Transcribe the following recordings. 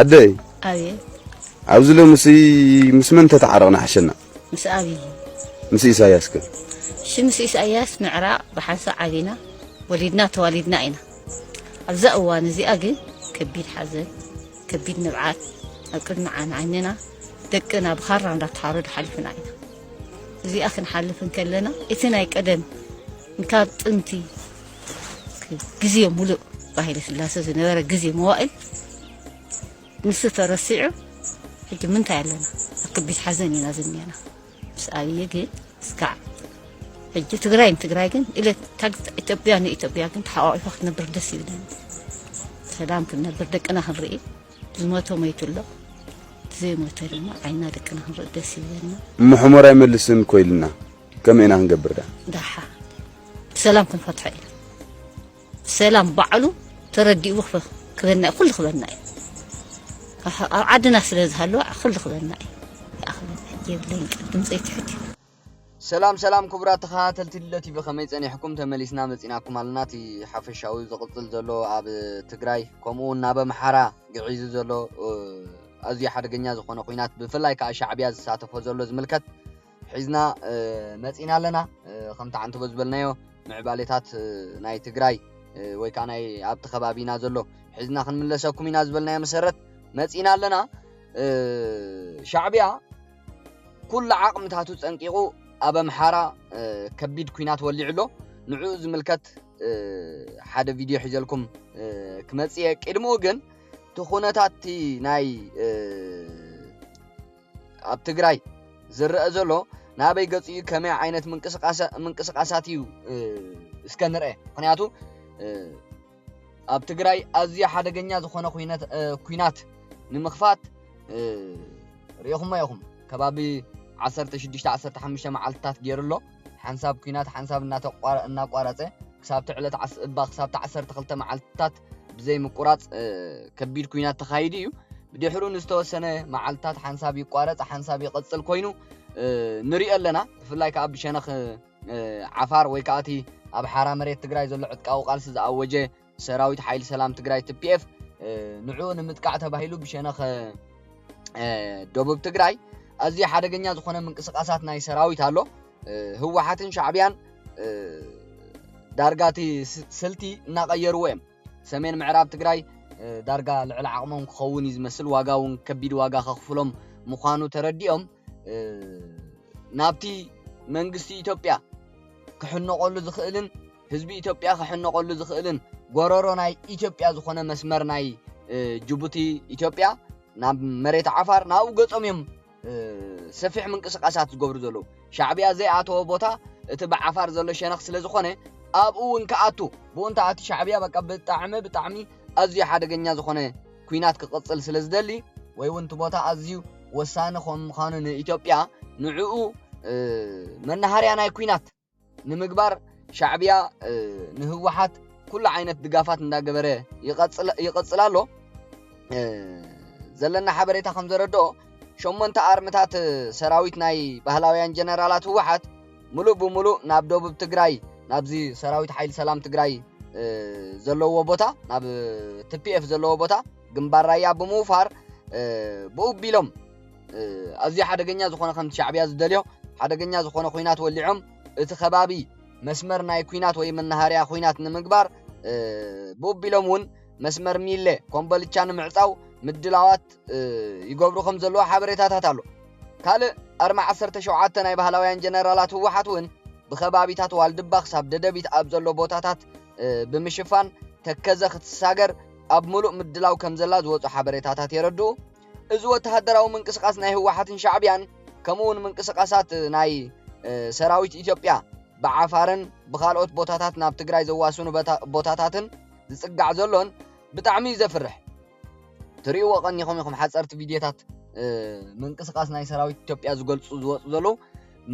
ኣደይ ኣብየ ኣብዚ ሎምሲ ምስ መን ተተዓረቕና ሓሸና ምስ ኣብይ ምስ ኢሳያስ ከ እሺ ምስ ኢሳያስ ምዕራቕ ብሓንሳ ዓቢና ወሊድና ተዋሊድና ኢና ኣብዛ እዋን እዚኣ ግን ከቢድ ሓዘን ከቢድ ንብዓት ኣብ ቅድሚ ዓይንና ደቅና ብኻራ እንዳተሓረዱ ሓሊፍና ኢና እዚኣ ክንሓልፍ እንከለና እቲ ናይ ቀደም ካብ ጥንቲ ግዜ ሙሉእ ብሃይለ ስላሰ ዝነበረ ግዜ መዋእል ንሱ ተረሲዑ ሕጂ ምንታይ ኣለና ኣብ ከቢድ ሓዘን ኢና ዝኒአና ምስ ኣብዪ ግን እስካዕ ሕጂ ትግራይ ንትግራይ ግን ኢለት ኢትዮጵያ ንኢትዮጵያ ግን ተሓቋቂፋ ክትነብር ደስ ይብለኒ ሰላም ክንነብር ደቅና ክንርኢ ዝሞተ ሞይቱ ኣሎ ዘይሞተ ድማ ዓይና ደቅና ክንርኢ ደስ ይብለና ምሕሞር ኣይመልስን ኮይልና ከመይ ኢና ክንገብር ደኣ? ደሓ ብሰላም ክንፈትሖ ኢና ብሰላም ባዕሉ ተረዲኡ ክበና እዩ ኩሉ ክበና እዩ ኣብ ዓድና ስለ ዝሃለወ ኩሉ ክበና እዩ ይኣኽለና የብለይን ቅድም ዘይትሕት እዩ ሰላም ሰላም ክቡራት ተኸታተልቲ ለቲቪ ከመይ ጸኒሕኩም ተመሊስና መጺናኩም ኣለና እቲ ሓፈሻዊ ዝቕጽል ዘሎ ኣብ ትግራይ ከምኡ እውን ናብ ኣምሓራ ግዒዙ ዘሎ ኣዝዩ ሓደገኛ ዝኾነ ኩናት ብፍላይ ከዓ ሻዕብያ ዝሳተፎ ዘሎ ዝምልከት ሒዝና መጺእና ኣለና ከምቲ ዓንተቦ ዝበልናዮ ምዕባሌታት ናይ ትግራይ ወይ ከዓ ናይ ኣብቲ ከባቢና ዘሎ ሒዝና ክንምለሰኩም ኢና ዝበልናዮ መሰረት መጺእና ኣለና ሻዕብያ ኩሉ ዓቕምታቱ ጸንቂቑ ኣብ ኣምሓራ ከቢድ ኩናት ወሊዑ ኣሎ ንዕኡ ዝምልከት ሓደ ቪድዮ ሒዘልኩም ክመጽእ እየ ቅድምኡ ግን እቲ ኩነታት ናይ ኣብ ትግራይ ዝረአ ዘሎ ናበይ ገጹ እዩ ከመይ ዓይነት ምንቅስቃሳት እዩ እስከ ንርአ ምክንያቱ ኣብ ትግራይ ኣዝዩ ሓደገኛ ዝኾነ ኩናት ንምኽፋት ሪኢኹሞ ኢኹም ከባቢ 16 15 መዓልትታት ገይሩ ኣሎ ሓንሳብ ኩናት ሓንሳብ እናቋረፀ ክሳብቲ ዕለት እባ ክሳብቲ 12 መዓልትታት ብዘይምቁራጽ ከቢድ ኩናት ተኻይዱ እዩ ድሕሩ ንዝተወሰነ መዓልትታት ሓንሳብ ይቋረጽ ሓንሳብ ይቕጽል ኮይኑ ንሪኦ ኣለና ብፍላይ ከዓ ብሸነኽ ዓፋር ወይ ከዓ እቲ ኣብ ሓራ መሬት ትግራይ ዘሎ ዕጥቃዊ ቃልሲ ዝኣወጀ ሰራዊት ሓይሊ ሰላም ትግራይ ትፒኤፍ ንዑ ንምጥቃዕ ተባሂሉ ብሸነኽ ደቡብ ትግራይ ኣዝዩ ሓደገኛ ዝኾነ ምንቅስቃሳት ናይ ሰራዊት ኣሎ ህወሓትን ሻዕብያን ዳርጋ እቲ ስልቲ እናቐየርዎ እዮም ሰሜን ምዕራብ ትግራይ ዳርጋ ልዕሊ ዓቕሞም ክኸውን እዩ ዝመስል ዋጋ እውን ከቢድ ዋጋ ከኽፍሎም ምዃኑ ተረዲኦም ናብቲ መንግስቲ ኢትዮጵያ ክሕነቐሉ ዝኽእልን ህዝቢ ኢትዮጵያ ክሕነቐሉ ዝኽእልን ጎረሮ ናይ ኢትዮጵያ ዝኾነ መስመር ናይ ጅቡቲ ኢትዮጵያ ናብ መሬት ዓፋር ናብኡ ገጾም እዮም ሰፊሕ ምንቅስቃሳት ዝገብሩ ዘለዉ ሻዕብያ ዘይኣተወ ቦታ እቲ ብዓፋር ዘሎ ሸነኽ ስለ ዝኾነ ኣብኡ እውን ክኣቱ ብኡ እንተኣቲ ሻዕብያ በቃ ብጣዕሚ ብጣዕሚ ኣዝዩ ሓደገኛ ዝኾነ ኩናት ክቕፅል ስለ ዝደሊ ወይ እውን እቲ ቦታ ኣዝዩ ወሳኒ ከም ምዃኑ ንኢትዮጵያ ንዕኡ መናሃርያ ናይ ኩናት ንምግባር ሻዕብያ ንህወሓት ኩሉ ዓይነት ድጋፋት እንዳገበረ ይቐፅል ኣሎ ዘለና ሓበሬታ ከም ዘረድኦ ሸሞንተ ኣርምታት ሰራዊት ናይ ባህላውያን ጀነራላት ህወሓት ሙሉእ ብሙሉእ ናብ ደቡብ ትግራይ ናብዚ ሰራዊት ሓይሊ ሰላም ትግራይ ዘለዎ ቦታ ናብ ትፒኤፍ ዘለዎ ቦታ ግንባር ራያ ብምውፋር ብኡቢሎም ኣዝዩ ሓደገኛ ዝኾነ ከምቲ ሻዕብያ ዝደልዮ ሓደገኛ ዝኾነ ኩናት ወሊዖም እቲ ከባቢ መስመር ናይ ኩናት ወይ መናሃርያ ኩናት ንምግባር ብኡቢሎም እውን መስመር ሚለ ኮምበልቻ ንምዕፃው ምድላዋት ይገብሩ ከም ዘለዎ ሓበሬታታት ኣሎ ካልእ ኣርማ 17 ናይ ባህላውያን ጀነራላት ህወሓት እውን ብከባቢታት ዋልድባ ክሳብ ደደቢት ኣብ ዘሎ ቦታታት ብምሽፋን ተከዘ ክትሳገር ኣብ ምሉእ ምድላው ከም ዘላ ዝወፁ ሓበሬታታት የረድኡ እዚ ወተሃደራዊ ምንቅስቓስ ናይ ህወሓትን ሻዕቢያን ከምኡ እውን ምንቅስቓሳት ናይ ሰራዊት ኢትዮጵያ ብዓፋርን ብካልኦት ቦታታት ናብ ትግራይ ዘዋስኑ ቦታታትን ዝፅጋዕ ዘሎን ብጣዕሚ እዩ ዘፍርሕ ትሪእዎ ቀኒኹም ኢኹም ሓፀርቲ ቪድዮታት ምንቅስቃስ ናይ ሰራዊት ኢትዮጵያ ዝገልፁ ዝወፁ ዘለዉ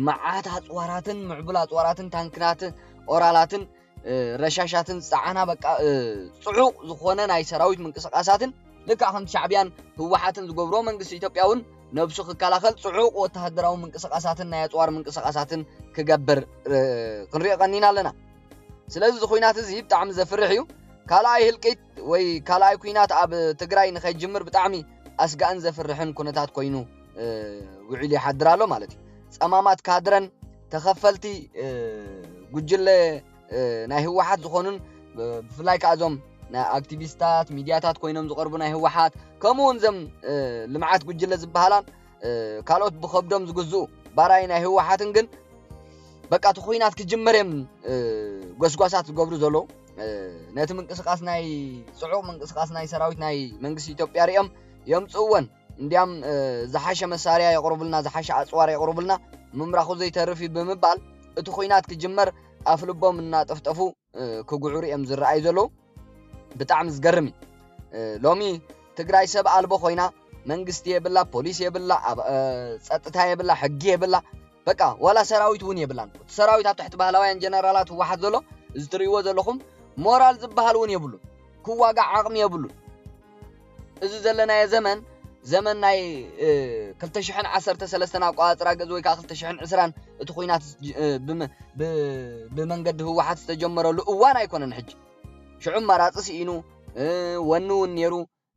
መዓት ኣፅዋራትን ምዕቡል ኣፅዋራትን ታንክናትን ኦራላትን ረሻሻትን ዝጸዓና በቃ ጽዑቕ ዝኾነ ናይ ሰራዊት ምንቅስቓሳትን ልክዕ ከምቲ ሻዕብያን ህወሓትን ዝገብሮ መንግስቲ ኢትዮጵያ እውን ነብሱ ክከላኸል ጽዑቕ ወተሃደራዊ ምንቅስቓሳትን ናይ ኣፅዋር ምንቅስቓሳትን ክገብር ክንሪኦ ቀኒና ኣለና ስለዚ እዚ ኩናት እዚ ብጣዕሚ ዘፍርሕ እዩ ካልኣይ ህልቂት ወይ ካልኣይ ኩናት ኣብ ትግራይ ንኸይጅምር ብጣዕሚ ኣስጋእን ዘፍርሕን ኩነታት ኮይኑ ውዒሉ ይሓድር ኣሎ ማለት እዩ ጸማማት ካድረን ተኸፈልቲ ጉጅለ ናይ ህወሓት ዝኾኑን ብፍላይ ከዓ እዞም ናይ ኣክቲቪስታት ሚድያታት ኮይኖም ዝቐርቡ ናይ ህወሓት ከምኡ እውን እዞም ልምዓት ጉጅለ ዝበሃላን ካልኦት ብከብዶም ዝግዝኡ ባራይ ናይ ህወሓትን ግን በቃ እቲ ኩናት ክጅመር እዮም ጎስጓሳት ዝገብሩ ዘለዉ ነቲ ምንቅስቃስ ናይ ፅዑቕ ምንቅስቃስ ናይ ሰራዊት ናይ መንግስቲ ኢትዮጵያ ሪኦም የምፅእወን እንዲያም ዝሓሸ መሳርያ የቕርቡልና፣ ዝሓሸ ኣጽዋር የቕርቡልና፣ ምምራኹ ዘይተርፍ እዩ ብምባል እቲ ኩናት ክጅመር ኣፍ ልቦም እናጠፍጠፉ ክጉዕሩ እዮም ዝረኣዩ ዘለዉ። ብጣዕሚ ዝገርም እዩ። ሎሚ ትግራይ ሰብ ኣልቦ ኮይና መንግስቲ የብላ፣ ፖሊስ የብላ፣ ጸጥታ የብላ፣ ሕጊ የብላ፣ በቃ ዋላ ሰራዊት እውን የብላን። እቲ ሰራዊት ኣብ ትሕቲ ባህላውያን ጀነራላት ህወሓት ዘሎ እዚ ትርእይዎ ዘለኹም ሞራል ዝበሃል እውን የብሉን። ክዋጋዕ ዓቕሚ የብሉን። እዚ ዘለናዮ ዘመን ዘመን ናይ ክልተ ሽሕን ዓሰርተ ሰለስተን ኣቆፃፅራ ግእዝ ወይ ከዓ ክልተ ሽሕን ዕስራን እቲ ኩናት ብመንገዲ ህወሓት ዝተጀመረሉ እዋን ኣይኮነን ሕጂ ሽዑ መራፂ ስኢኑ ወኒ እውን ነይሩ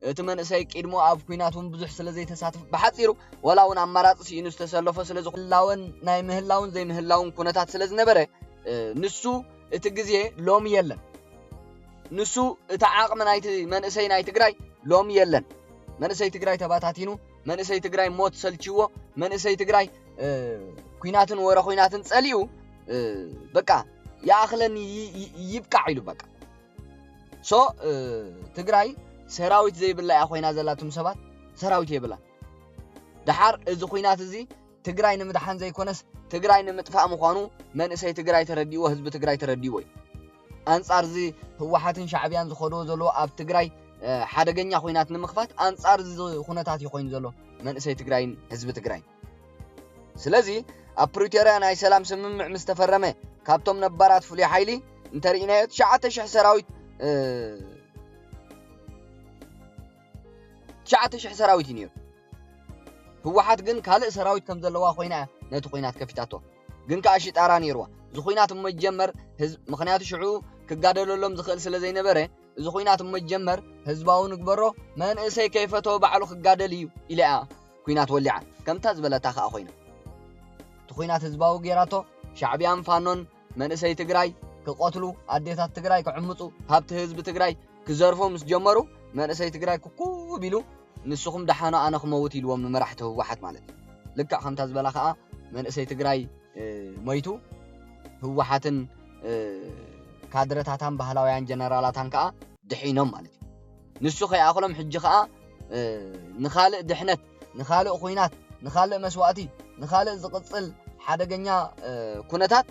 እቲ መንእሰይ ቂድሞ ኣብ ኩናት እውን ብዙሕ ስለ ዘይተሳትፍ ብሓፂሩ ወላ እውን ኣማራፂ ስኢኑ ዝተሰለፎ ስለ ዝላወን ናይ ምህላውን ዘይምህላውን ኩነታት ስለ ዝነበረ ንሱ እቲ ግዜ ሎሚ የለን ንሱ እቲ ዓቕሚ ናይቲ መንእሰይ ናይ ትግራይ ሎሚ የለን መንእሰይ ትግራይ ተባታቲኑ መንእሰይ ትግራይ ሞት ሰልችዎ መንእሰይ ትግራይ ኩናትን ወረ ኩናትን ጸሊኡ በቃ ይኣኽለኒ ይብቃዕ ኢሉ በቃ ሶ ትግራይ ሰራዊት ዘይብላ እያ ኮይና ዘላትም ሰባት ሰራዊት የብላን ደሓር እዚ ኩናት እዚ ትግራይ ንምድሓን ዘይኮነስ ትግራይ ንምጥፋእ ምዃኑ መንእሰይ ትግራይ ተረዲዎ ህዝቢ ትግራይ ተረዲዎ እዩ ኣንጻር እዚ ህወሓትን ሻዕብያን ዝኸድዎ ዘለዎ ኣብ ትግራይ ሓደገኛ ኩናት ንምኽፋት ኣንጻር እዚ ኩነታት እዩ ኮይኑ ዘሎ መንእሰይ ትግራይን ህዝቢ ትግራይ ስለዚ ኣብ ፕሪቶርያ ናይ ሰላም ስምምዕ ምስ ተፈረመ ካብቶም ነባራት ፍሉይ ሓይሊ እንተርኢናዮ ትሽዓተ ሽሕ ሰራዊት ትሽዓተ ሽሕ ሰራዊት እዩ ነይሩ ህወሓት ግን ካልእ ሰራዊት ከም ዘለዋ ኮይና እያ ነቲ ኩናት ከፊታቶ ግን ከኣ ሽጣራ ነይርዋ እዚ ኩናት እሞ ይጀመር ህዝብ ምክንያቱ ሽዑ ክጋደለሎም ዝክእል ስለ ዘይነበረ እዚ ኩናት እሞ ይጀመር ህዝባዊ ንግበሮ መንእሰይ ከይፈተወ ባዕሉ ክጋደል እዩ ኢላ እያ ኩናት ወሊዓ ከምታ ዝበለታ ከኣ ኮይና እቲ ኩናት ህዝባዊ ጌራቶ ሻዕቢያን ፋኖን መንእሰይ ትግራይ ክቐትሉ፣ ኣዴታት ትግራይ ክዕምፁ፣ ሃብቲ ህዝቢ ትግራይ ክዘርፉ ምስ ጀመሩ መንእሰይ ትግራይ ኩኩብ ኢሉ ንስኹም ደሓኑ ኣነ ክመውት ኢልዎም ንመራሕቲ ህወሓት ማለት እዩ። ልክዕ ከምታ ዝበላ ከዓ መንእሰይ ትግራይ ሞይቱ ህወሓትን ካድረታታን ባህላውያን ጀነራላታን ከዓ ድሒኖም ማለት እዩ። ንሱ ከይኣኽሎም ሕጂ ከዓ ንኻልእ ድሕነት ንኻልእ ኹናት ንኻልእ መስዋእቲ ንኻልእ ዝቕጽል ሓደገኛ ኩነታት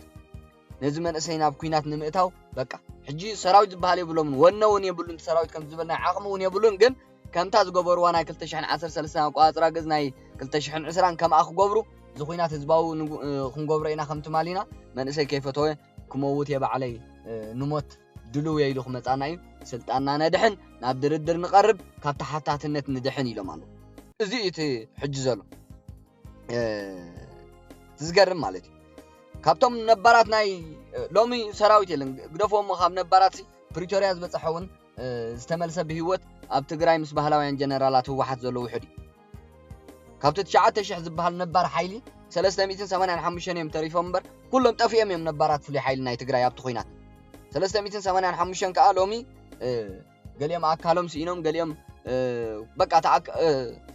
ነዚ መንእሰይ ናብ ኩናት ንምእታው በቃ ሕጂ ሰራዊት ዝበሃል የብሎምን ወነ እውን የብሉን ሰራዊት ከም ዝበል ናይ ዓቕሚ እውን የብሉን ግን ከምታ ዝገበርዋ ናይ 213 ኣቋፅራ ግዝ ናይ 220 ከምኣ ክገብሩ እዚ ኩናት ህዝባዊ ክንገብሮ ኢና ከም ትማሊና መንእሰይ ከይፈተወ ክመውት የባዕለይ ንሞት ድሉው እየ ኢሉ ክመጻና እዩ፣ ስልጣንና ነድሕን፣ ናብ ድርድር ንቐርብ፣ ካብ ተሓታትነት ንድሕን ኢሎም ኣለዉ። እዚ እዩ እቲ ሕጂ ዘሎ እቲ ዝገርም ማለት እዩ። ካብቶም ነባራት ናይ ሎሚ ሰራዊት የለን ግደፎ እሞ ካብ ነባራት ፕሪቶርያ ዝበፅሐ እውን ዝተመልሰ ብሂወት ኣብ ትግራይ ምስ ባህላውያን ጀነራላት ህወሓት ዘሎ ውሕድ እዩ። ካብቲ ትሽዓተ ሽሕ ዝበሃል ነባር ሓይሊ ሰለስተ ሚእትን ሰማንያን ሓሙሽተን እዮም ተሪፎም እምበር ኩሎም ጠፊኦም እዮም ነባራት ፍሉይ ሓይሊ ናይ ትግራይ ኣብቲ ኩናት ሰለስተ ሚእትን ሰማንያን ሓሙሽተን ከዓ ሎሚ ገሊኦም ኣካሎም ስኢኖም ገሊኦም በቃ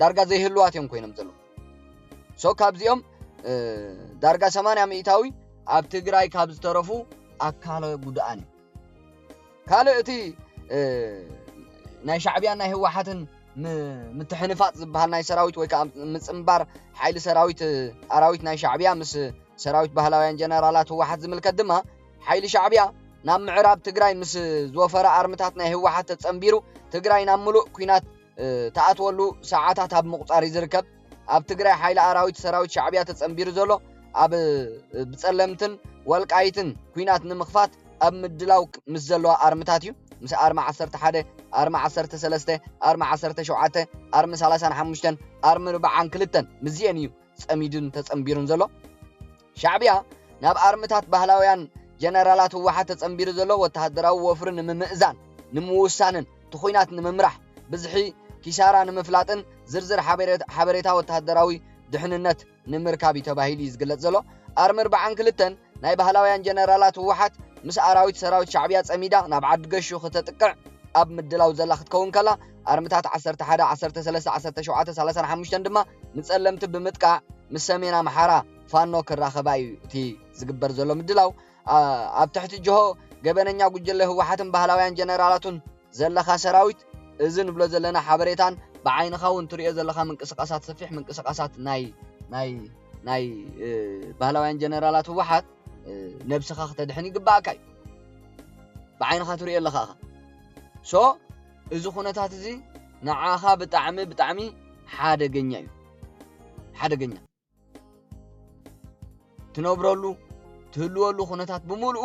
ዳርጋ ዘይህልዋት እዮም ኮይኖም ዘለዉ ሶ ካብዚኦም ዳርጋ ሰማንያ ሚእታዊ ኣብ ትግራይ ካብ ዝተረፉ ኣካለ ጉድኣን እዩ ካልእ እቲ ናይ ሻዕብያን ናይ ህወሓትን ምትሕንፋጥ ዝበሃል ናይ ሰራዊት ወይ ከዓ ምፅምባር ሓይሊ ሰራዊት ኣራዊት ናይ ሻዕብያ ምስ ሰራዊት ባህላውያን ጀነራላት ህወሓት ዝምልከት ድማ ሓይሊ ሻዕብያ ናብ ምዕራብ ትግራይ ምስ ዝወፈረ ኣርምታት ናይ ህወሓት ተፀምቢሩ ትግራይ ናብ ምሉእ ኩናት ተኣትወሉ ሰዓታት ኣብ ምቑፃር እዩ ዝርከብ ኣብ ትግራይ ሓይሊ ኣራዊት ሰራዊት ሻዕብያ ተጸንቢሩ ዘሎ ኣብ ብጸለምትን ወልቃይትን ኩናት ንምኽፋት ኣብ ምድላው ምስ ዘለዋ ኣርምታት እዩ ምስ ኣርሚ 11 ኣርሚ 13 ኣርሚ 17 ኣርሚ 35 ኣርሚ 42 ምስዚኤን እዩ ጸሚዱን ተጸንቢሩን ዘሎ ሻዕብያ ናብ ኣርምታት ባህላውያን ጀነራላት ህወሓት ተጸንቢሩ ዘሎ ወተሃደራዊ ወፍሪ ንምምእዛን፣ ንምውሳንን ትኹናት ንምምራሕ ብዝሒ ኪሳራ ንምፍላጥን ዝርዝር ሓበሬታ ወተሃደራዊ ድሕንነት ንምርካብ እዩ ተባሂሉ እዩ ዝግለጽ ዘሎ። ኣርሚ ኣርብዓን ክልተን ናይ ባህላውያን ጀነራላት ህወሓት ምስ ኣራዊት ሰራዊት ሻዕብያ ጸሚዳ ናብ ዓዲ ገሹ ክተጥቅዕ ኣብ ምድላው ዘላ ክትከውን ከላ ኣርምታት ዓሰርተ ሓደ፣ ዓሰርተ ሰለስተ፣ ዓሰርተ ሸውዓተ፣ ሳላሳን ሓሙሽተን ድማ ንጸለምቲ ብምጥቃዕ ምስ ሰሜን ኣምሓራ ፋኖ ክራኸባ እዩ እቲ ዝግበር ዘሎ ምድላው ኣብ ትሕቲ ጅሆ ገበነኛ ጉጅለ ህወሓትን ባህላውያን ጀነራላቱን ዘለካ ሰራዊት እዚ ንብሎ ዘለና ሓበሬታን ብዓይንኻ እውን ትሪኦ ዘለካ ምንቅስቃሳት ሰፊሕ ምንቅስቃሳት ናይ ናይ ናይ ባህላውያን ጀነራላት ህወሓት ነብስኻ ክተድሕን ይግባእካ እዩ ብዓይንኻ ትሪኦ ኣለኻ ኢኻ ሶ እዚ ኩነታት እዚ ንዓኻ ብጣዕሚ ብጣዕሚ ሓደገኛ እዩ ሓደገኛ ትነብረሉ ትህልወሉ ኩነታት ብምልኡ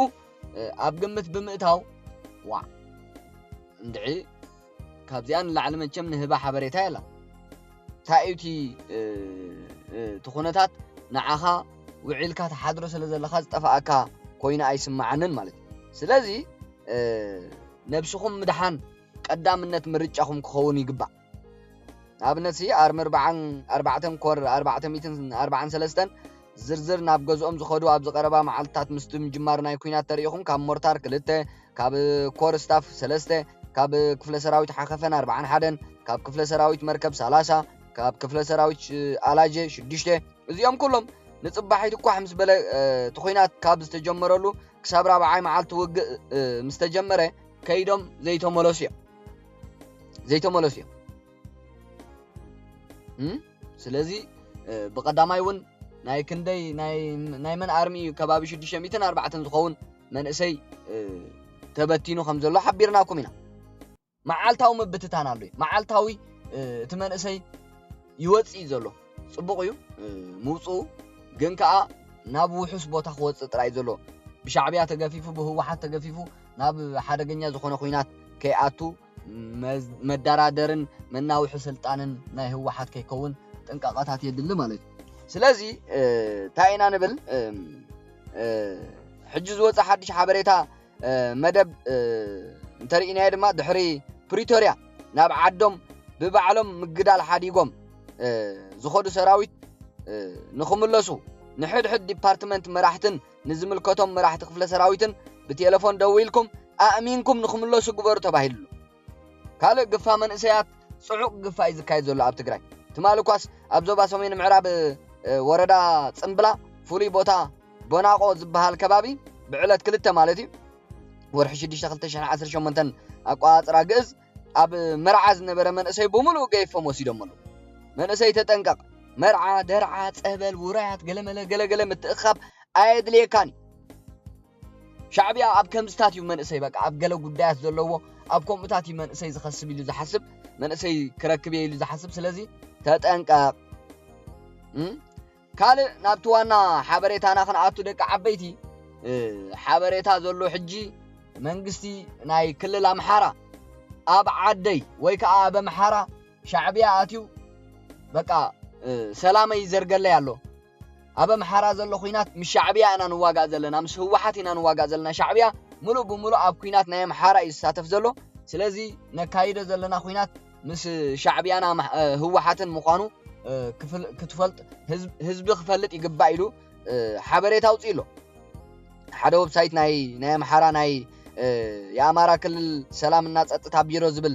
ኣብ ግምት ብምእታው ዋ እንድዒ ካብዚኣ ንላዕሊ መቸም ንህባ ሓበሬታ የላ እንታይ እዩ እቲ እቲ ኩነታት ንዓኻ ውዒልካ ተሓድሮ ስለ ዘለኻ ዝጠፋኣካ ኮይኑ ኣይስማዓንን ማለት እዩ ስለዚ ነብስኹም ምድሓን ቀዳምነት ምርጫኹም ክኸውን ይግባእ ንኣብነትሲ ኣርሚ ኣርብዓን ኣርባዕተን ኮር ኣርባዕተ ሚትን ኣርባዓን ሰለስተን ዝርዝር ናብ ገዝኦም ዝኸዱ ኣብዚ ቀረባ መዓልትታት ምስቲ ምጅማር ናይ ኩናት ተሪኢኹም ካብ ሞርታር ክልተ ካብ ኮር ስታፍ ሰለስተ ካብ ክፍለ ሰራዊት ሓኸፈን ኣርባዓን ሓደን ካብ ክፍለ ሰራዊት መርከብ ሰላሳ ካብ ክፍለ ሰራዊት ኣላጀ ሽዱሽተ እዚኦም ኩሎም ንፅባሒት እኳሕ ምስ በለ እቲ ኩናት ካብ ዝተጀመረሉ ክሳብ ራብዓይ መዓልቲ ውግእ ምስ ተጀመረ ከይዶም ዘይተመለሱ እዮም ዘይተመለሱ እዮም ስለዚ ብቀዳማይ እውን ናይ ክንደይ ናይ መን ኣርሚ እዩ ከባቢ 604 ዝኸውን መንእሰይ ተበቲኑ ከም ዘሎ ሓቢርናኩም ኢና መዓልታዊ ምብትታን ኣሎ እዩ መዓልታዊ እቲ መንእሰይ ይወፅእ እዩ ዘሎ ጽቡቕ እዩ ምውጽኡ ግን ከኣ ናብ ውሑስ ቦታ ክወጽእ ጥራይ ዘሎ ብሻዕብያ ተገፊፉ ብህወሓት ተገፊፉ ናብ ሓደገኛ ዝኾነ ኩናት ከይኣቱ መዳራደርን መናውሒ ስልጣንን ናይ ህወሓት ከይከውን ጥንቃቐታት የድሊ ማለት እዩ ስለዚ እንታይ ኢና ንብል ሕጂ ዝወፀ ሓድሽ ሓበሬታ መደብ እንተርኢናዮ ድማ ድሕሪ ፕሪቶርያ ናብ ዓዶም ብባዕሎም ምግዳል ሓዲጎም ዝኾዱ ሰራዊት ንኽምለሱ ንሕድሕድ ዲፓርትመንት መራሕትን ንዝምልከቶም መራሕቲ ክፍለ ሰራዊትን ብቴሌፎን ደዊልኩም ኣእሚንኩም ንኽምለሱ ግበሩ ተባሂሉ ካልእ ግፋ መንእሰያት ጽዑቕ ግፋ እዩ ዝካየድ ዘሎ ኣብ ትግራይ። ትማሊ እኳስ ኣብ ዞባ ሰሜን ምዕራብ ወረዳ ጽምብላ ፍሉይ ቦታ ቦናቖ ዝበሃል ከባቢ ብዕለት ክልተ ማለት እዩ ወርሒ ሽዱሽተ ክልተ ሽሕን ዓሰርተ ሸሞንተን ኣቆጻጽራ ግእዝ ኣብ መርዓ ዝነበረ መንእሰይ ብምሉኡ ገይፎም ወሲዶም ኣለዉ መንእሰይ ተጠንቀቕ መርዓ ደርዓ ጸበል ውራያት ገለመለ ገለገለ ምትእኻብ ኣየድልየካን እዩ ሻዕብያ ኣብ ከምዝታት እዩ መንእሰይ በቃ ኣብ ገለ ጉዳያት ዘለዎ ኣብ ከምኡታት እዩ መንእሰይ ዝኸስብ ኢሉ ዝሓስብ መንእሰይ ክረክብ እየ ኢሉ ዝሓስብ ስለዚ ተጠንቀቕ ካልእ ናብቲ ዋና ሓበሬታና ክንኣቱ ደቂ ዓበይቲ ሓበሬታ ዘሎ ሕጂ መንግስቲ ናይ ክልል ኣምሓራ ኣብ ዓደይ ወይ ከዓ ኣብ ኣምሓራ ሻዕብያ ኣትዩ በቃ ሰላመይ ይዘርገለይ ኣሎ ኣብ ኣምሓራ ዘሎ ኹናት ምስ ሻዕብያ ኢና ንዋጋእ ዘለና ምስ ህወሓት ኢና ንዋጋእ ዘለና ሻዕብያ ምሉእ ብምሉእ ኣብ ኩናት ናይ ኣምሓራ እዩ ዝሳተፍ ዘሎ ስለዚ ነካይዶ ዘለና ኩናት ምስ ሻዕብያና ህወሓትን ምዃኑ ክትፈልጥ ህዝቢ ክፈልጥ ይግባእ ኢሉ ሓበሬታ ኣውፅኡ ኣሎ ሓደ ወብሳይት ናይ ናይ ኣምሓራ ናይ የኣማራ ክልል ሰላምና ፀጥታ ቢሮ ዝብል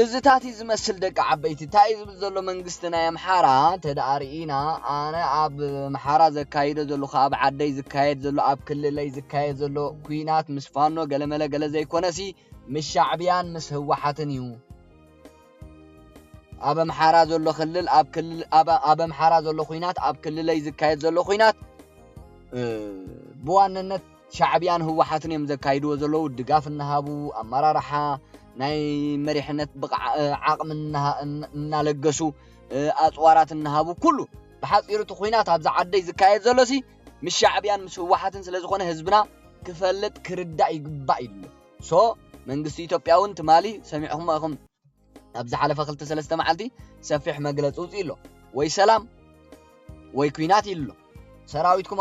እዝታት እዩ ዝመስል ደቂ ዓበይቲ። ታይ እዩ ዝብል ዘሎ መንግስቲ ናይ ኣምሓራ ተድኣ ሪኢና ኣነ ኣብ ኣምሓራ ዘካይዶ ዘለኩ ኣብ ዓደይ ዝካየድ ዘሎ ኣብ ክልለይ ዝካየድ ዘሎ ኩናት ምስ ፋኖ ገለመለ ገለ ዘይኮነሲ ምስ ሻዕብያን ምስ ህወሓትን እዩ ኣብ ኣምሓራ ዘሎ ክልል ኣብ ክልል ኣብ ኣምሓራ ዘሎ ኩናት ኣብ ክልለይ ዝካየድ ዘሎ ኩናት ብዋነነት ሻዕብያን ህወሓትን እዮም ዘካይድዎ ዘለዉ ድጋፍ እናሃቡ ኣመራርሓ ናይ መሪሕነት ብቕዓ ዓቕሚ እናለገሱ ኣፅዋራት እናሃቡ ኩሉ ብሓፂሩ እቲ ኩናት ኣብዚ ዓደይ ዝካየድ ዘሎሲ ምስ ሻዕብያን ምስ ህወሓትን ስለ ዝኾነ ህዝብና ክፈልጥ ክርዳእ ይግባእ ኢሉ ሶ መንግስቲ ኢትዮጵያ እውን ትማሊ ሰሚዕኹም ኢኹም ኣብ ዝሓለፈ ክልተ ሰለስተ መዓልቲ ሰፊሕ መግለፂ ውፅኡ ኣሎ ወይ ሰላም ወይ ኩናት ኢሉ ኣሎ ሰራዊትኩም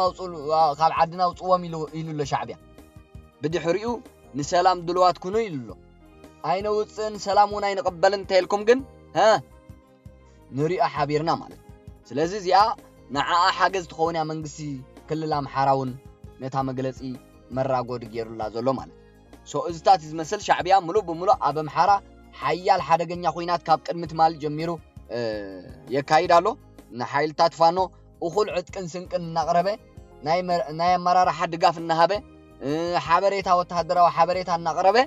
ካብ ዓድና ውፅዎም ኢሉ ኣሎ ሻዕብያ ብድሕሪኡ ንሰላም ድልዋት ኩኑ ኢሉ ኣሎ ኣይነውፅእን ሰላም እውን ኣይንቕበልን እንተይልኩም ግን ሀ ንሪኦ ሓቢርና ማለት ስለዚ እዚኣ ንዓኣ ሓገዝ ትኸውን እያ መንግስቲ ክልል ኣምሓራ እውን ነታ መግለፂ መራጎዲ ገይሩላ ዘሎ ማለት ሶ እዝታት ዝመስል ሻዕብያ ምሉእ ብምሉእ ኣብ ኣምሓራ ሓያል ሓደገኛ ኩናት ካብ ቅድሚ ትማሊ ጀሚሩ የካይድ ኣሎ ንሓይልታት ፋኖ እኹል ዕጥቅን ስንቅን እናቕረበ ናይ ኣመራርሓ ድጋፍ እናሃበ ሓበሬታ ወተሃደራዊ ሓበሬታ እናቕረበ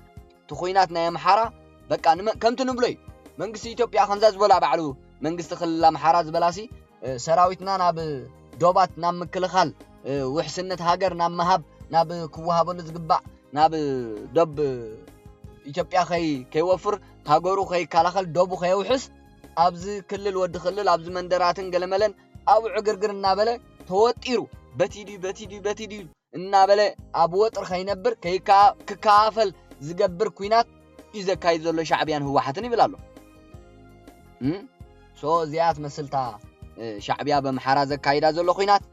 እቲ ኩናት ናይ ኣምሓራ በቃ ከምቲ ንብሎ እዩ መንግስቲ ኢትዮጵያ ከምዛ ዝበላ ባዕሉ መንግስቲ ክልል ኣምሓራ ዝበላሲ ሰራዊትና ናብ ዶባት ናብ ምክልኻል ውሕስነት ሃገር ናብ ምሃብ ናብ ክወሃበሉ ዝግባእ ናብ ዶብ ኢትዮጵያ ከይወፍር ሃገሩ ከይከላኸል ዶቡ ከየውሕስ ኣብዚ ክልል ወዲ ክልል ኣብዚ መንደራትን ገለመለን ኣብ ዕግርግር እናበለ ተወጢሩ በቲ ድዩ በቲ ድዩ በቲ ድዩ እናበለ ኣብ ወጥሪ ከይነብር ክከፋፈል ዝገብር ኩናት እዩ ዘካይድ ዘሎ ሻዕብያን ህወሓትን ይብል ኣሎ ሶ እዚኣ ትመስልታ ሻዕብያ በምሓራ ዘካይዳ ዘሎ ኩናት